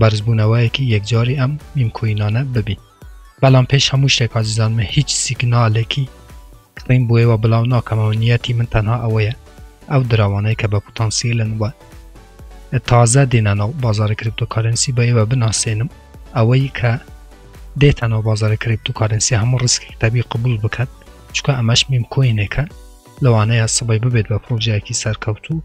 بەرزبوونەوەیەکی یەکجاری ئەم میمکوینانە ببین. بەڵام پێش هەموو شتێک ئازیزان من هیچ سیگنالێکی کڕین بۆ ئێوە بڵاو ناکەمەوە نیەتی من تەنها ئەوەیە ئەو دراوانەیە کە بە پوتانسیلن وە تازە دێنە ناو بازاری کریپتۆکارنسی بە ئێوە بناسێنم ئەوەی کە دێتە ناو بازاری کریپتۆکارنسی هەموو ڕسکی تەبی قبول بکات چکە ئەمەش میمکوینێکە لەوانەیە سبەی ببێت بە پرۆژەیەکی سەرکەوتوو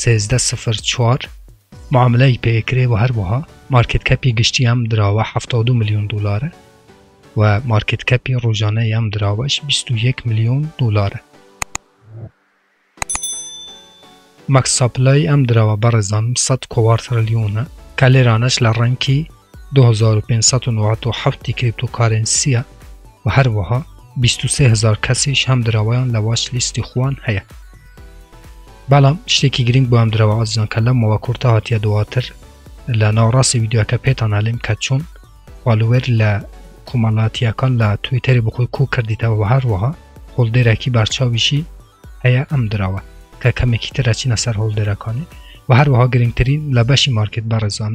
سێزدە سفر چوار معاملەی پێکرێ و هەروەها مارکێت کەپی گشتی ئەم دراوە حەفتا و دوو ملیۆن دۆلارە و مارکێت کەپی ڕۆژانەی ئەم دراوەش بیست و یەک ملیۆن دۆلارە مەکس ساپلای ئەم دراوە بەڕێزان سەد کۆوار ترلیۆنە کە لێرانەش لە ڕەنکی دو هەزار و پێنج سەد و نەوەد و حەفت ی کریپتۆکارێنسییە و هەروەها بیست و سێ هەزار کەسیش هەم دراوەیان لە واچ لیستی خوان هەیە بەڵام شتێکی گرنگ بۆ ئەم دراوە ئازیزان کە لەم مەوە کورتە هاتیە دواتر لە ناوەڕاستی ویددیوەکە پێتان هەلیم کە چۆن فالوێر لە کۆمەڵاتیەکان لە تویتەری بخۆی کو کردیتەوە و هەروەها هۆڵدێرەکی بەرچاویشی هەیە ئەم دراوە کە کەمێکی ترەچینە سەر هۆڵدێرەکانی و هەروەها گرنگترین لە بەشی مارکت بەڕێزان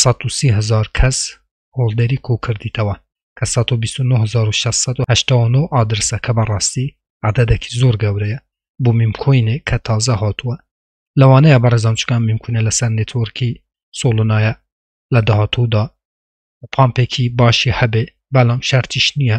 سەد و سی هەزار کەس هۆڵدەری کۆکردیتەوە کە سەد و بیست و نۆ هەزار و شەش سەد و هەشتا و نۆ ئادرسە کە بەڕاستی عەدەدەکی زۆر گەورەیە بۆ میمکۆینێک کە تازە هاتووە لەوانەیە بەڕێزان چکان میمکونە لەسەر نێتۆرکی سۆڵنایە لە داهاتوودا پامپێکی باشی هەبێ بەڵام شەرتیش نییە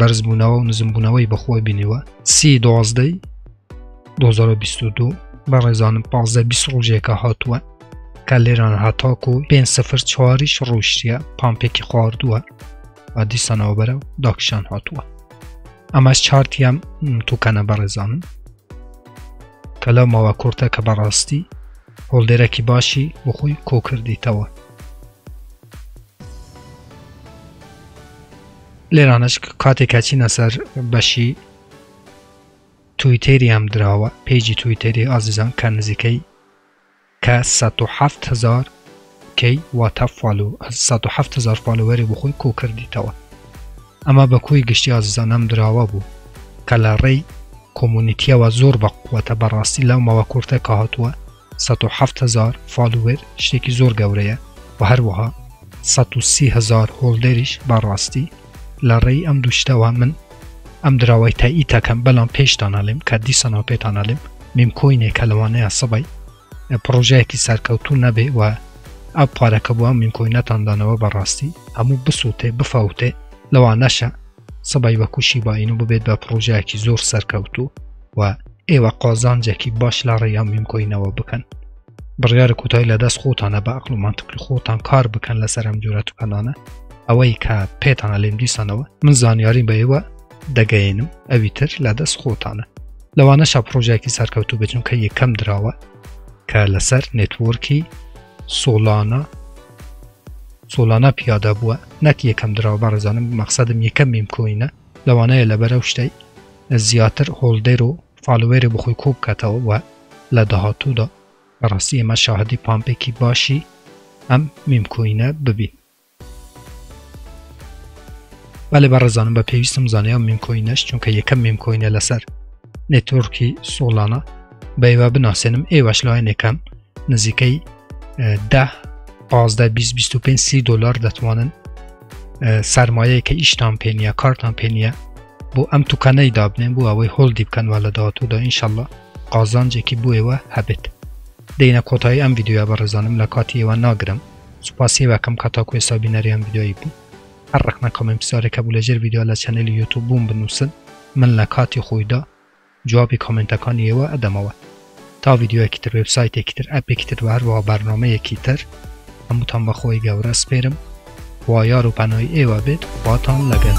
بەرزبوونەوە و نزمبوونەوەی بەخۆی بینیوە سی دۆزدەی 2022 بە ڕێزانم پازدە بیست ڕۆژێکە هاتووە کە لێران هەتاکو پێ سفر چواریش ڕوشتە پامپێکی خواردووە و دیسانەوە بەرە و داکشان هاتووە ئەمەش چارتیان توکەنە بەڕێزانم کە لەو ماوە کورتە کە بەڕاستی هۆڵدێرەکی باشی بخۆی کۆکردیتەوە لێرانەش کاتێک کەچینە سەر بەشی تویتێری ئەم دراوە پێیجی تویتێری ئازیزان کە نزیکەی کە 1970هزار کەی واتە فال و 1970هزار فالوەری بخۆی کۆ کردیتەوە ئەمە بە کۆی گشتی ئازیزان ئەم دراوە بوو کە لە ڕێی کۆمونیتیەوە زۆر بە قووەتە بەڕاستی لەمەوە کورتە کە هاتووە سەد و حەفت هەزار فالوور شتێکی زۆر گەورەیە و هەروەها سەد و سی هەزار هۆڵدەریش بە ڕاستی لە ڕێی ئەم دوو شتەوە من ئەم دراوەی تاییتەکەم بەڵام پێشتان ئەڵێم کە دیسانەوە پێتان ئەڵێم میم کۆینێک کە لەوانەیە سەبەی پڕۆژەیەکی سەرکەوتوو نەبێ و ئەو پارەکە بووە میم کۆینەتاندانەوە بەڕاستی هەموو بسووتێ بفەوتێ لەوانەشە سبەی بە کوشی باین و ببێت بە پڕۆژایکی زۆر سەرکەوتو و ئێوە قازانجێکی باش لە ڕێیان میمکۆینەوە بکەن بڕیارە کوتای لە دەست خۆتانە بە ئەقل و منتقل خۆتان کار بکەن لە سەرم جۆرە توکەنانە ئەوەی کە پێتانە لێم دیسانەوە من زانیاری بە ئێوە دەگەێنم ئەوی تر لە دەست خۆتانە لەوانە شە پرۆژێکی سەرکەوتو بچون کە یەکەم دراوە کە لەسەر نێتوەرکی سۆلانە سۆلانا پیادا بووە نەک یەکەم دراو بەڕێزانم مەقسەدم یەکەم میم کۆینە لەوانەیە لەبەر ئەو شتەی زیاتر هۆڵدەر و فالوێری بخۆی کۆ بکاتەوە و لە داهاتوودا بەڕاستی ئێمە شاهدی پامپێکی باشی ئەم میم کۆینە ببین بەێ بەڕێزانم بە پێویستم زانێ ئەم میم کۆینەش چونکە یەکەم میم کۆینە لەسەر نێتۆرکی سۆڵانە بەێوە بناسێنم ئێوەش لایەنێکم نزیکەی ده پازدە بیست بیست و پێنج سی دۆلار دەتوانن سرمایەیە کە ئیشتان پێ نیە کارتان پێ نیە بۆ ئەم توکەنەی دابنێن بۆ ئەوەی هۆڵدی بکەنوە لە داهاتوودا ئینشەڵە قازانجێکی بۆ ئێوە هەبێت دێنە کۆتایی ئەم یددیوە بەڕێزانم لە کاتی ئێوە ناگرم سوپاسی وەکەم کە تاکو ئێستا بینەریان یددیوی بوو هەر ڕخنە کامنت پسارێکە بوو لەژێر یددیو لە چەنەلی یوتوب بووم بنووسن من لە کاتی خۆیدا جوابی کۆمێنتەکانی ئێوە ئەدەمەوە تا ڤیدیۆیەکی تر وێبسایتێکی تر ئەپێکی تر وە هەروەها بەرنامەیەکی تر هەمووتان بەخۆی گەورە سپێرم خوا یار و پەنای ئێوە بێت خواتان لەگەل.